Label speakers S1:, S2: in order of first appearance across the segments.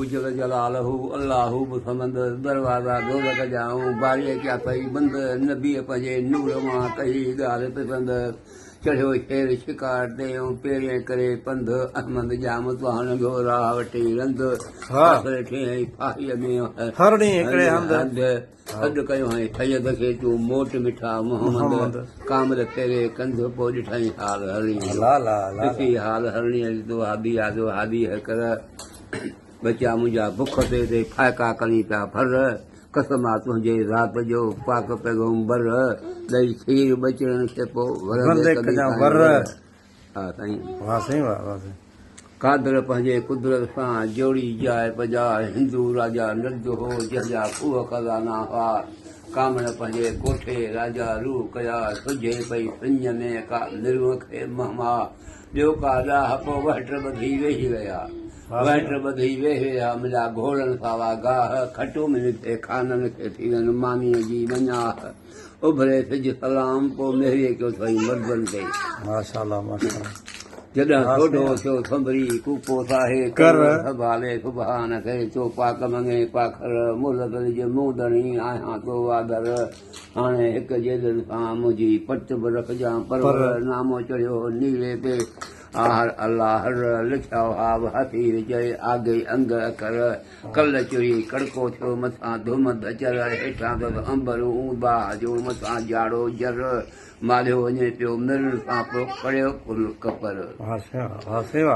S1: جل جلاله الله به سمند، دروازا دوزخ جا آئون باري ڪيا ٿئي بند، نبيء پنهنجي نور مان ڪئي ڳالهه پسند، چڙهيو شير شڪار تي آئون پيرين ڪري پنڌ، احمد ڄام توهان لنگهيو راهه وٺي رند، آخر ٺيهين ڦاهيء ۾ هر ڏينهن هڪڙي هنڌ. سڏ ڪيو هانء سيد کي تو موٽ مٺا محمد ڪامل ڦيري ڪنڌ پوء ڏٺائين حال هرڻي جو ڏسي حال هرڻي جو تو هابي آدو هابي هي ڪر ٻچا منهنجا بک تي تي ڦائڪا ڪرين پيا ڦر قسم آ تنهنجي ذات جو پاڪ پيغمبر ڏئي کير ٻچڙن کي پوء ورندي ڪجان ور. آه سائين. واه سائين واه واه سائين. قادر پنهنجي قدرت سان جوڙي جاء پجاء هندو راجا نرد هو جنهن جا کوهه خزانا هئا ڪامڻ پنهنجي ڪوٺي راجا روء ڪيا سجهي پئي سڃ ۾ ڪا نروء کي مهما ٻيو ڪا ڏاهپ وهٽ ٻڌي ويهي رهيا وهٽ ٻڌي ويهي رهيا مليا گهوڙن ساوا گاهه کٽو ملي ٿئي خانن کي ٿيون مانيء جي مڃاهه اڀري سج سلام پوء مهريء ڪيو ٿئي مردن تي ماشاءالله ماشاءالله
S2: جڏهن
S1: سوڍو ٿيو سنڀري ڪوپو ساهي ڪر سڀالي سبحان کي چو پاڪ مڱي پاکر ملڪ لج مون ڏڻي آهيان تو آدر هاڻي هڪ جيدن سان منهنجي پٽ به رکجان پر نامو چڙهيو نيلي تي آهر الله هر لکيا هاو هٿي چئي آگي انگ اکر ڪل چري ڪڙڪو ٿيو، مٿان ڌومد اچر، هيٺان اٿس عنبر اون باهه جو، مٿان جاڙو جر، مالهيو وڃي پيو مر، تان پوء ڪڙهيو ڪل ڪپر.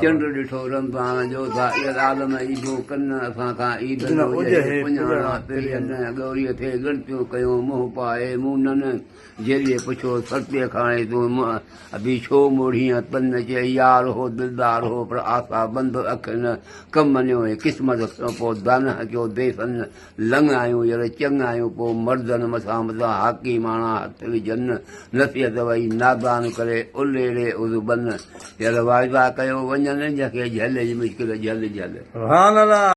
S1: چنڊ ڏٺو رمضان جو، سائر عالم عيدون ڪن، اسان کان عيد نه اجهي، پڃاڻا پرين، ڳوريء ٿي ڳڻتيون ڪيون، منهن پائي مونن. جيليء پڇيو، سرتيء کان هاڻي تون منهن اڀي ڇو موڙهين؟ تن چيائين، يار هو دلدار هو، پر آسا بند اک نه ڪم مڃيو ۽ قسمت کڻيو. پوء دانهن ڪيو، ديسن لڱ آيون ير چڱ آيون. پوء مردن مٿان مٿان هاڪي ماڻا هٿ وجهن، نصيحت وئي نادان ڪري الهيڙي عضو بن. ير واعدا ڪيو، وڃن جنهن کي جهلج مشڪل جهل جهل.